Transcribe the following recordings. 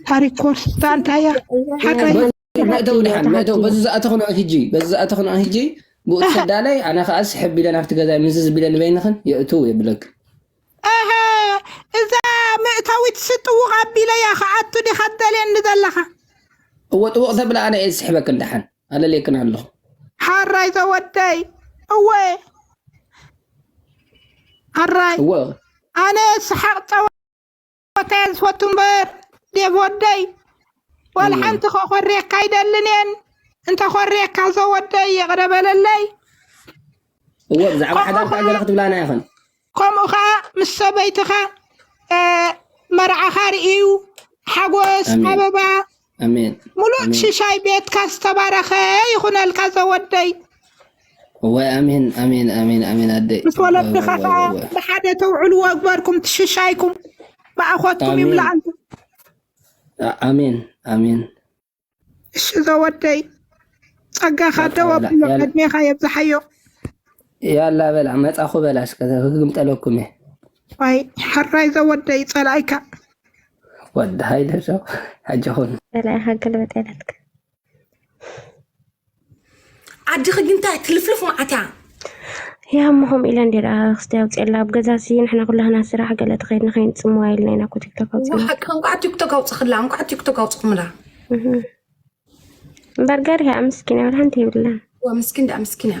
ታሪክ ኮርስ ታንታያ ሓቀይ ማእደው ድሓን ማእደው በዚ ዝኣተኹና ህጂ በዚ ዝኣተኹና ህጂ ብኡ ትሰዳለይ ኣነ ከዓ ስሕብ ኢለን ኣብቲ ገዛ ምዝ ዝቢለን በይንኽን የእትው የብለክ ኣሀ እዛ ምእታዊት ስጥውቕ ኣቢለያ ከኣቱ ዲኻ ትደልየኒ ዘለኻ እወ ጥውቕ ተብላ ኣነ እየ ዝስሕበክን ድሓን ኣለልየክን ኣለኹ ሓራይ ዘወደይ እወ ሓራይ ኣነ ስሓቕ ፀወ ሞተ እየ ዝፈቱ እምበር ዴቭ ወደይ ዋላ እወ ሓንቲ ከኮርየካ ኣይደልን እየን እንተኮርየካ ዘወደይ ይቕረ በለለይ እወ ብዛዕባ ከምኡ ሓዳር ከዓ ገለ ከዓ ክትብላና ይኽን ከምኡ ከዓ ምስ ሰበይትኻ እ፣ መርዓኻ ርእዩ ሓጎስ ኣሜን ኣበባ ኣሜን ሙሉእ ኣሜን ሽሻይ ቤትካ ዝተባረኸ ይኹነልካ ዘወደይ እወ ኣሜን ኣሜን ኣሜን ኣሜን ኣደይ ምስ እወ እወ ወለድኻ እወ እወ ከዓ እወ ብሓደ ተውዕሉ ወግበርኩም ትሽሻይኩም ብኣኾትኩም ኣሜን ይምላኣልኩም ኣ- ኣሜን ኣሜን እሺ ዘወደይ ጸጋኻ በቃ ደው በላ ኣቢሎ ያላ ዕድሜኻ የብዝሓዮ ያላ በላ መጻኹ በላ እስከ ክግምጠለኩም እየ ዋይ ሐራይ ዘወደይ ጸላኢካ ወዲ ሃይለ ሰው ኣጀኹን በላይ ሃገል በጤነትክ ዓድኺ ግን እንታይ ትልፍልፍ መዓት እያ ያ እሞ ከምኡ ኢለ እንዲ ደኣ ክስቲ ኣውፅኤላ ኣብ ገዛ ሲ ንሕና ኩላህና ስራሕ ገለ ተኸይድና ከይንፅምዋ ኢልና ኢና እኮ ቲክቶክ ኣውፅና ወሓቂ እንኳዕ ቲክቶክ ኣውፅኽላ እንኳዕ ቲክቶክ ኣውፅኹምላ እምበር ገሪሃ ምስኪን እያ ሓንቲ የብላን ዋ ምስኪን ደኣ ምስኪን እያ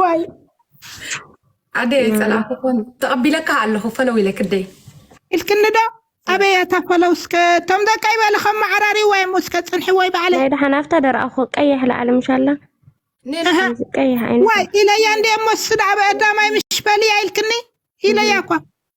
ዋይ ዓደይ ኣይፀላእኩኹን ተቐቢለካ ኣለኹ ፈለው ኢለ ክደይ ኢልክኒ ዶ ኣበይ እታ ፈለው እስከ እቶም ደቂ ይበለ ከም መዓራሪዋ እሞ እስከ ፅንሒ ወይ ባዕለ ናይ ደሓን ኣብታ ደረኣኹ ቀይሕ ላዕሊ ምሻላ ኔል ኣሃ እዚ ቀይሕ ዓይነት ዋይ ኢለያ እንደ እሞ ስዳዕ በእዳማይ ምሽ በልያ ኢልክኒ ኢለያ እኳ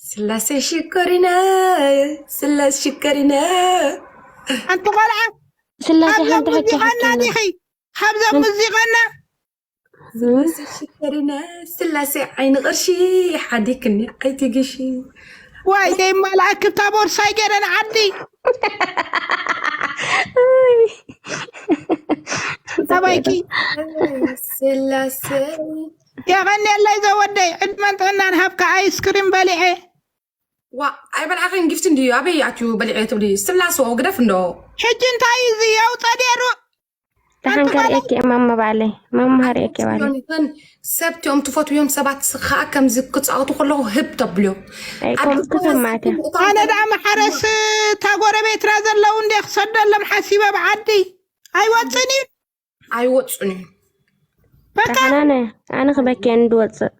ስላሴ ሽኮሪና ስላስ ሽኮሪና ሓንቲ ቆልዓ ስላሴ ሓንቲ ሕጂ ሓቂ ዲኺ ካብዛ ሙዚቀና ስላሴ ሽኮሪና ስላሴ ዓይኒ ቅርሺ ሓዲክኒ ኣይትግሺ ዋይ ደይ ማልኣክ እታ ቦርሳይ ገረን ዓዲ ተባይኪ ስላሴ የቐንየለይ ዘወደይ ዕድመን ጥዕናን ሃብካ ኣይስክሪም በሊዐ። ዋእ ኣይበልዓኺን ጊፍቲ እንድዩ ኣበይ ኣትዩ በሊዐ ትብሊ ስትላስኦ ግደፍ እንዶ። ሕጂ እንታይ እዩ እዚ የውፀ ነይሩ ደሓን ከርእየኪ እየ ማማ ባዕለይ ማማ ሃርእየኪ እየ ባዕለይ ዮኒተን ሰብ እቲኦም ትፈትውዮም ሰባት ከዓ ከምዚ ክፃወቱ ከለኹ ህብ ተብልዮ ኣይ ከምኡ ተሰማዕት እያ ኣነ ደኣ መሓረስ እታ ጎረቤትና ዘለዉ እንደ ክሰደሎም ሓሲበ ብዓዲ ኣይወፅን እዩ ኣይወፁን እዩ ሓናነ ኣነ ክበኪየ እንድወፅእ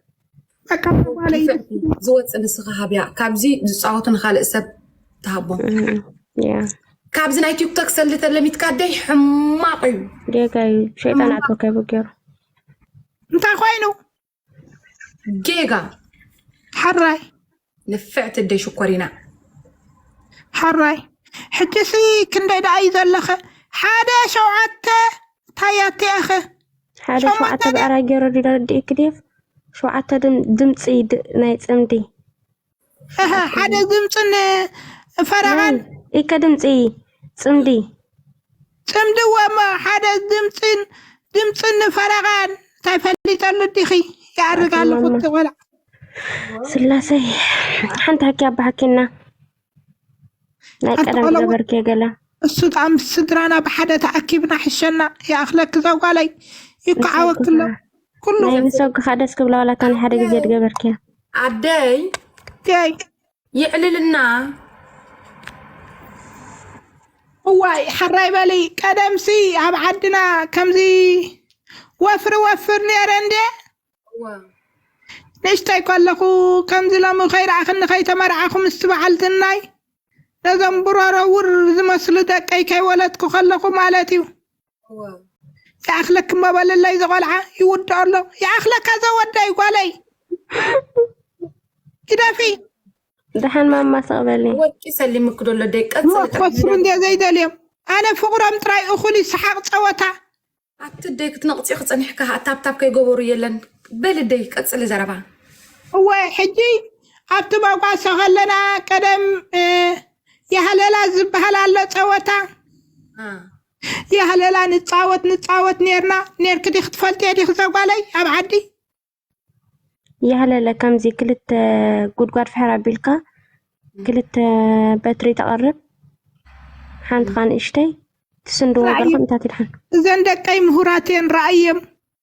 ዝወፅእ ንስኻ ሃብያ ካብዚ ዝፃወቱ ንካልእ ሰብ ትሃቦም ካብዚ ናይ ቲክቶክ ሰልዲ ተለሚትካ ደይ ሕማቕ እዩ ጌጋ እዩ ሸይጣን ኣቶ ከይቡ ገይሩ እንታይ ኮይኑ ጌጋ ሕራይ ንፍዕቲ ኣደይ ሽኮሪና ሕራይ ሕጂሲ ክንደይ ደኣ እዩ ዘለኸ ሓደ ሸውዓተ ታያት እያኸ ሓደ ሸውዓተ ሸውዓተ ድ- ብዕራይ ገይረ ዲዳ ረድኤኪ ዴቭ ሸውዓተ ድም- ድምፂ ድ- ናይ ፅምዲ ሓደ ድምፅን ፈረቓን ኢከ ድምፂ ፅምዲ ፅምዲ እወ እሞ ሓደ ድምፅን ድምፅን ፈረቓን እንታይ ፈሊጠሉ ዲኺ ይኣርግ ኣሎ ቁቲ ቆልዓ ስላሰይ ሓንቲ ሃኪ ኣባ ሃኪና ናይ ሓንቲ ቀደም ቆልዓ- ገበርኪ ገለ እሱ ጣ ምስ ስድራና ብሓደ ተኣኪብና ሕሸና ይኣኽለኪ ዘጓለይ ይከዓወክሎ ኩሉ ናይ ምሰጉኻ ደስ ክብላ ዋላታ ናይ ሓደ ግዜ ድገበርኪያ ኣደይ ይ ይዕልልና እዋይ ሓራይ በሊ ቀደምሲ ኣብ ዓድና ከምዚ ወፍሪ ወፍር ነረ እንደ እወ ንእሽተይ ከለኹ ከምዚ ሎሚ ከይረኣኽኒ ከይተመርዓኹ ምስ በዓል ዝናይ ነዞም ብሮሮ ውር ዝመስሉ ደቀይ ከይወለድኩ ከለኹ ማለት እዩ ይኣኽለኪ እሞ በለለይ ዘቆልዓ ይውድኦ ኣሎ ይኣኽለካ ዘወደይ ጓለይ ግደፊ ደሓን ማማ ሰቕበሊ ወርቂ ሰሊምክ ዶ ኣሎ ደይ ቀጽሊ ሞት ክወስዱ እንደ ዘይደልዮም ኣነ ፍቕሮም ጥራይ እኹል እዩ ሰሓቕ ጸወታ ኣቲ ደይ ክትነቕፂ ክፀኒሕካ ታብታብ ከይገበሩ የለን በሊ ደይ ቀፅሊ ዘረባ እወ ሕጂ ኣብቲ መጓሰ ከለና ቀደም እ፣ የሃለላ ዝበሃል ኣሎ ጸወታ አ፣ ያህለላ ንፃወት ንፃወት ኔርና ኔርኪ ዲኺ ትፈልጥዮ ዲኺ ዘጓለይ ኣብ ዓዲ ያህለለ ከምዚ ክልተ ጉድጓድ ፍሕር ኣቢልካ ክልተ በትሪ ተቐርብ ሓንቲ ኻን እሽተይ ትስንድዎ ስራዕ እዩ። ገርኹም እንታይ ትድሓን እዘን ደቀይ ምሁራት እየን ራእየም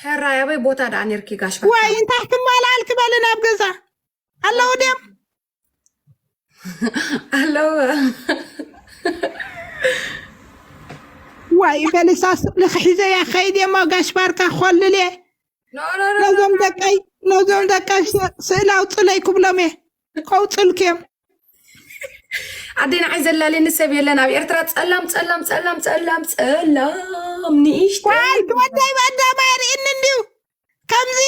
ሕራይ ኣበይ ቦታ ደኣ ነርኪ ጋሽ ዋይ እንታይ ትማላል ክበል ናብ ገዛ ኣለዉ ድም ኣለዉ ዋይ በልሳ ስእሊ ክሒዘያ ከይድ የሞ ጋሽ ባርካ ኮልል እየ ነዞም ደቀይ ነዞም ደቀይ ስእሊ ኣውፅለይ ክብሎም እየ ይቀውጥልክ እዮም ኣደይ ንዓይ ዘላለኒ ሰብ የለን ኣብ ኤርትራ ጸላም ጸላም ጸላም ጸላም ጸላም ንኢሽተ ጓል ትወደይ በእንዳማ የርእኒ እንድዩ ከምዚ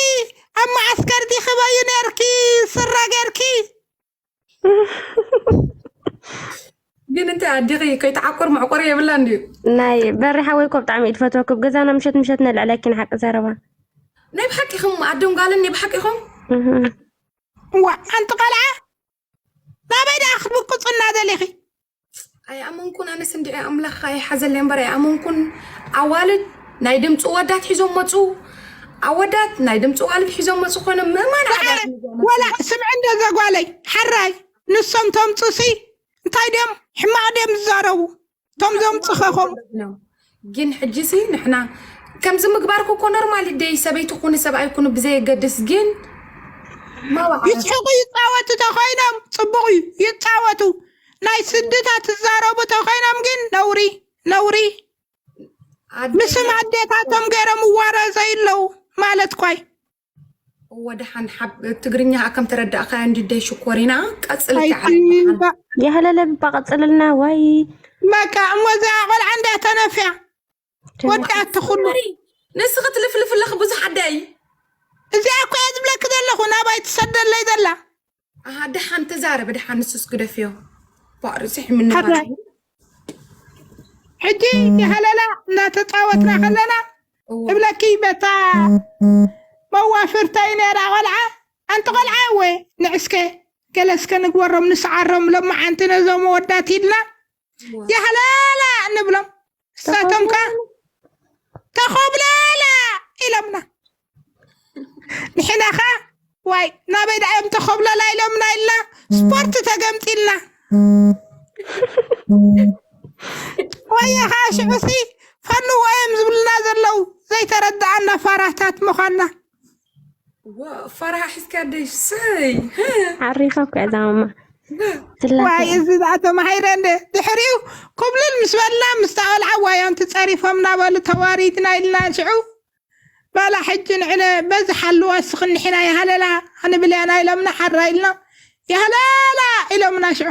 ኣብ መዓስከር ዲኽበዩ ነርኪ ስረ ገርኪ ግን እንታይ ኣዲኺ ከይተዓቁር መዕቆሪ የብላ እንድዩ ናይ በሪ ሓወይ እኮ ብጣዕሚ እዩ ትፈትወኩ ብ ገዛና ምሸት ምሸት ነልዕለኪ ንሓቂ ዘረባ ናይ ብሓቂ ኢኹም ኣዶን ጓልን ናይ ብሓቂ ኢኹም እህ። እዋ ሓንቲ ቃልዓ ናበይ ደኣ ክትብቅፁና ደሊኺ ኣይኣመንኩን ኣነስ እንድዒ ኣምላኽ ኣይሓዘለይ እምበር ኣይኣመንኩን ኣዋልድ ናይ ድምፂ ወዳት ሒዞም መፁ ኣወዳት ናይ ድምፂ ዋልድ ሒዞም መፁ ኮይኖም ምእማን ወላ ስምዒ እንደ ዘጓለይ ሓራይ ንሶም ተምፁሲ እንታይ ድዮም ሕማቕ ድዮም ዝዛረቡ እቶም ዘምፅኸ ከምኡ ግን ሕጂ ሲ ንሕና ከምዚ ምግባርኩ እኮ ኖርማል ደይ ሰበይቲ ኩኒ ሰብኣይ ኩኑ ብዘየገድስ ግን ማዋዕረት ይስሕቁ ይፃወቱ ተኮይኖም ፅቡቅ እዩ ይፃወቱ ናይ ስድታ ትዛረቡ ተኮይኖም ግን ነውሪ ነውሪ ኣደ ምስም ኣዴታቶም ገይሮም እዋረ ዘይለው ማለት ኳይ ወደሓን ትግርኛ ከም ተረዳእካዮ እንድደ ሽኮሪና ቀፅል የህለለብባ ቀፅልልና ወይ በቃ እሞ እዛ ቆልዓ እንዳ ተነፍያ ወዳእቲ ኩሉ ንስኺ ትልፍልፍለኺ ብዙሕ ኣዳይ እዚኣ እኮ እየ ዝብለኪ ዘለኹ ናባይ ትሰደለይ ዘላ ኣሃ ደሓን ተዛረበ ደሓን ንሱስ ግደፍዮ ባእሪ ስሒ ምንባር ሓዳይ ሕጂ የህለላ እናተፃወትና ከለና እወ እብለኪ በታ መዋፍርተይ ነራ ቆልዓ ኣንቲ ቆልዓ እወ ንዕስከ ገለ እስከ ንግበሮም ንስዓሮም ሎማዓንቲ ነዞም ወዳት ኢልና ያህለላ ንብሎም እሳቶም ከ ተኾብለላ ኢሎምና ንሕና ከ ዋይ ናበይ ዳኣ እዮም ተኾብለላ ኢሎምና ኢልና ስፖርት ተገምጢልና ወየ ከዓ ሽዑሲ ፈንዎ እዮም ዝብሉና ዘለው ዘይተረድኣና ፋራታት ምዃና ፈርሃ ሒዝካ ደሽ ሰይ ዓሪፋ እኮ እያ ዛማማ ዋይ እዚ ደኣ ተማሂረ እንደ ድሕሪኡ ኩብልል ምስ በልና ምስታ ቆልዓ ዋዮም ትፀሪፎም እናበሉ ተዋሪድና ኢልና ሽዑ ባላ ሕጂ ንዕለ በዚ ሓልዋ ስኽንሒና ይሃለላ ክንብልያና ኢሎምና ሓራ ኢልና ይሃለላ ኢሎምና ሽዑ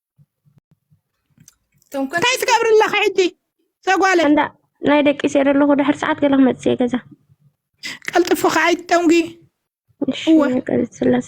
ተንኮል እንታይ ትገብሪ ኣለኺ ሕጂ ሰጓለ እንዳ ናይ ደቂ ሴር ኣለኹ ድሕር ሰዓት ገለ ክመጽእ እየ ገዛ ቀልጥፍኺ ኣይትጠንጒ እሺ እወ። ገጽ ስላሴ